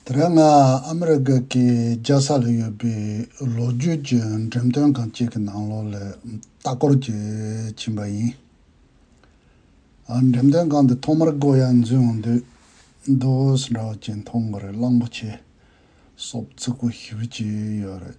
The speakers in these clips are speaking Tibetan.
དེ་རིང་ང་ཨ་མི་རི་ཀ་གི་རྒྱལ་ས་ལ་ཡོད་པའི་ལོ་རྒྱུས་ཀྱི་འགྲེམས་སྟོན་ཁང་གཅིག་གི་ནང་ལོགས་ལ་ལྟ་སྐོར་གྱིས་ཕྱིན་པ་ཡིན། འགྲེམས་སྟོན་ཁང་འདི་ཐོག་མར་སྒོ་ཡར་འཛུལ་འོང་དུས་རྡོ་ཨུས་འདྲ་བ་ཅིག་མཐོང་གི་རེད་གླང་པོ་ཆེ་སོགས་ཚིག་གོ་ཞིབ་ཅིག་ཡོད་རེད།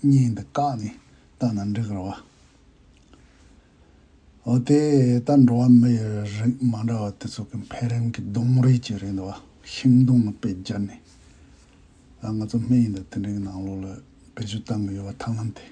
གཉིས་འདི་བཀག་ནས་བལྟ་ན་འགྲིག་རོ། འོ་དེ་ལྟར་འགྲོ་བ་མི་ཡི་རིགས་མ་འདྲ་བ་དེ་ཚོ་གི་འཕེལ་རིམ་གྱི་སྡོང་རིས་ཀྱི་རིང་དུ་བ་ཤིང་སྡོང་ལ་དཔེ་སྦྱར་ནས། ང་ཚོ་སྨན་ཡིན་དུ་དེ་འདྲའི་གི་ནང་ལོགས་ལ་བེད་སྤྱོད་བཏང་གི་ཡོད་བ་ཐང་ལམ་དེ།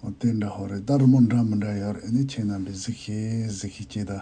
འོ་དེ་འདྲ་ཧོ་རེ་ད་རི་མོ་འདྲ་མི་འདྲ་ཡོད་རེ་ནི་ཁྱེད་རྣམས་པའི་གཟིགས་ཤེས་གཟིགས་ཤེས་སྐྱེས་ད།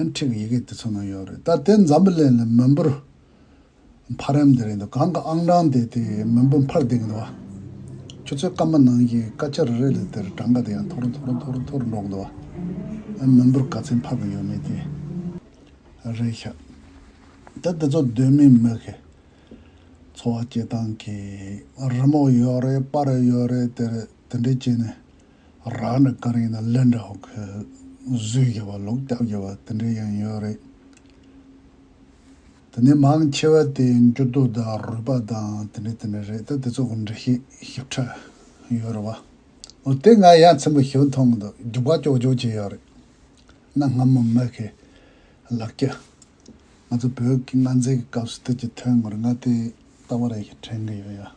ཡང་ཁྲིགས་ཡི་གེ་དེ་ཚོ་ནང་ཡོད་རེད་ད་དེ་འཛམ་བུ་ལན་ལས་མོན་བུར་འཕར་ཡམ་དེ་རེད་འདུག་གང་གི་ཨང་གྲངས་དེ་དེ་མོན་བུ་འཕར་བསྡད་གི་འདུག་བ། ཁྱོད་ཚོའི་སྐར་མ་ནང་གི་སྐར་ཆ་རེ་རེ་ལས་དེར་གྲངས་ཀ་དེ་ཡང་མཐོ་རུ་མཐོ་རུ་མཐོ་རུ་མཐོ་རུ་འགྲོ་གི་འདུག་བ། མོན་བུར་ག་ཚད་འཕར་གི་ཡོད་མེད་དེ་རེད་ཤག་ད་དེ་ཚོ་གདོད་མའི་མི་གི་འཚོ་བ་སྐྱེལ་སྟངས་ཀྱི་རི་མོ་ཡོད་རེད་པར་ཡོད་རེད་དེ་རེད་དེ་འདྲས་བྱས་ནས་རང་ནི་གང་ཡིན་ན་གླེན་འདྲ་བོ་ཁོས་བཟོས་རྒྱུ་བ་ལོག་རྒྱབ་རྒྱུ་བ་དེ་འདྲའི་ཡང་ཡོད་རེད། དེ་ནས་མང་ཆེ་བ་དེ་འགྱུར་རྡོ་དང་རུས་པ་དང་དེ་འདྲ་དེ་འདྲ་རེད་ད་དེ་ཚོ་གང་འདྲ་ཞིག་ཞིབ་ཕྲ་ཡོད་རེད་བ། འོ་དེ་ང་ཡ་མཚན་པོ་ཞིག་མཐོང་འདུག་རྒྱུ་བ་ཀྱོག་ཀྱོག་ཅིག་ཡོད་རེད། གནའ་སྔ་མོ་མི་ཁའི་ལག་སྐྱ། ང་ཚོ་བོད་ཀྱི་མངའ་མཛད་ཀྱི་སྐབས་སུ་དེ་ཅིག་ཐོན་ངོར་ང་དེ་ལྟ་བུ་རེ་ཞིག་དྲན་གྱི་ཡོད་ཡ།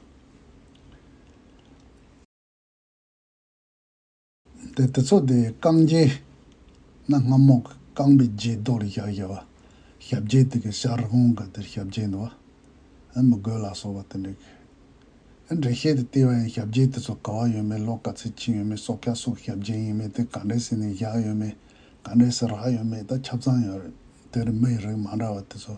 དེ་དེ་ཚོ་དེ་རྐང་རྗེས་ན་རྔ་མོང་གི་རྐང་པའི་རྗེས་རྡོ་རུ་བཞག་བཞག་བ། ཞབས་རྗེས་དེ་གི་ཤར་ཧོང་གི་དེར་ཞབས་རྗེས་འདུག་བ། ཨེ་མི་དགོས་ལགས་སོ་བ་དེ་འདྲས་གི། ཨེ་འགྲེལ་བཤད་དེ་ལྟས་བ་ཡིན་ཞབས་རྗེས་དེ་ཚོ་ག་བ་ཡོད་མེད་ལོག་ག་ཚིག་ཅི་ཡོད་མེད་སོག་སྐྱ་སོག་ཞབས་རྗེས་ཡིན་མིན་དེ་ག་འདྲས་སེ་ནས་བཞག་ཡོད་མེད་ག་འདྲས་སེ་རག་ཡོད་མེད་ད་ཁྱབ་ཚང་ཡོད་རེད་དེ་རི་མི་ཡི་རིགས་མ་འདྲ་བ་དེ་ཚོ།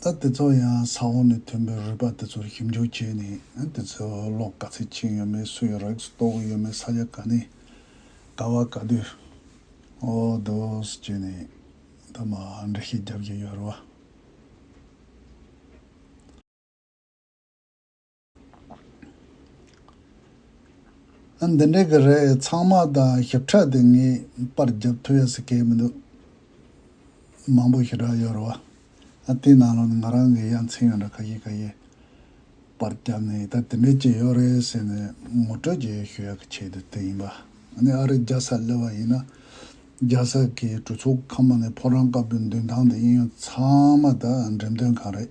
ད་དེ་ཚོ་ཡང་ས་འོག་ནས་ཐོན་པའི་རུས་པ་དེ་ཚོར་ཞིབ་འཇུག་བྱས་ནས་དེ་ཚོའི་གློག་ག་ཚད་ཕྱིན་ཡོད་མེད་སུ་ཡི་རེག་སུ་གཏོགས་གི་ཡོད་མེད་ས་ཆ་ག་ནས་ག་བ་ག་དུས་འོ་དོས་བྱས་ནས་ད་མ་འདྲི་ཤེས་རྒྱབ་ཀྱི་ཡོད་རེད་བ། ཨ་འདི་འདྲའི་གི་རེད་ཚང་མ་དང་ཞིབ་ཕྲ་དེ་ངས་པར་བརྒྱབ་ཐུབ་ཡ་སི་ཁེལ་མི་འདུག་མང་པོ་ཞེ་དྲག་ཡོད་རེད་བ་ཨ་དེའི་ནང་ལ་ནི་ང་རང་གི་ཡ་མཚན་ཡོད་འདྲ་ཁ་ཤས་ཁ་ཤས་པར་བརྒྱབ་ནས་ད་དེ་འདྲའི་ཅིག་ཡོད་རེད་ཟེར་ནས་ངོ་སྤྲོད་ཅིག་ཞུ་ཡ་གི་ཆེད་དུ་དེ་ཡིན་པ་ཨ་ནི་ཨ་རིར་རྒྱ་ས་སླེབས་པ་ཡིན་ན་རྒྱ་ས་གི་གྲོས་ཚོགས་ཁང་པ་ནས་ཕོ་བྲང་སྐབས་དེ་མདུན་ཐང་དེ་ཨིན་ཡང་ཚང་མ་ད་འགྲེམས་སྟོན་ཁང་རེད་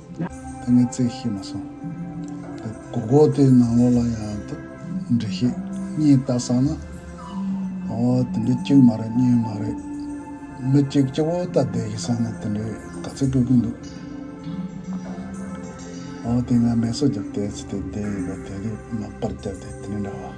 ད་ངས་བརྩེགས་ཤེས་མ་སོང། གོ་གོ་ལྟོས་ནང་ལོགས་ལ་ཡང་འདྲི་ཤེས་གཉིས་ལྟ་བསམ་ན། ཨོ་དེ་འདྲའི་གཅིག་མ་རེད་གཉིས་མ་རེད། མི་གཅིག་གཅིག་པོ་ལྟ་བསྡད་ཤེས་བསམ་ན་དེ་འདྲའི་དགའ་ཚལ་དཀོན་གི་འདུག། ཨོ་དེ་ང་མལ་སོ་རྒྱབ་བལྟས་ཚེ་དེ་བསྡད་ཡོད་པ་དེ་རིགས་མག་པར་བརྒྱབ་སྟེ་དེ་འདྲ་བ།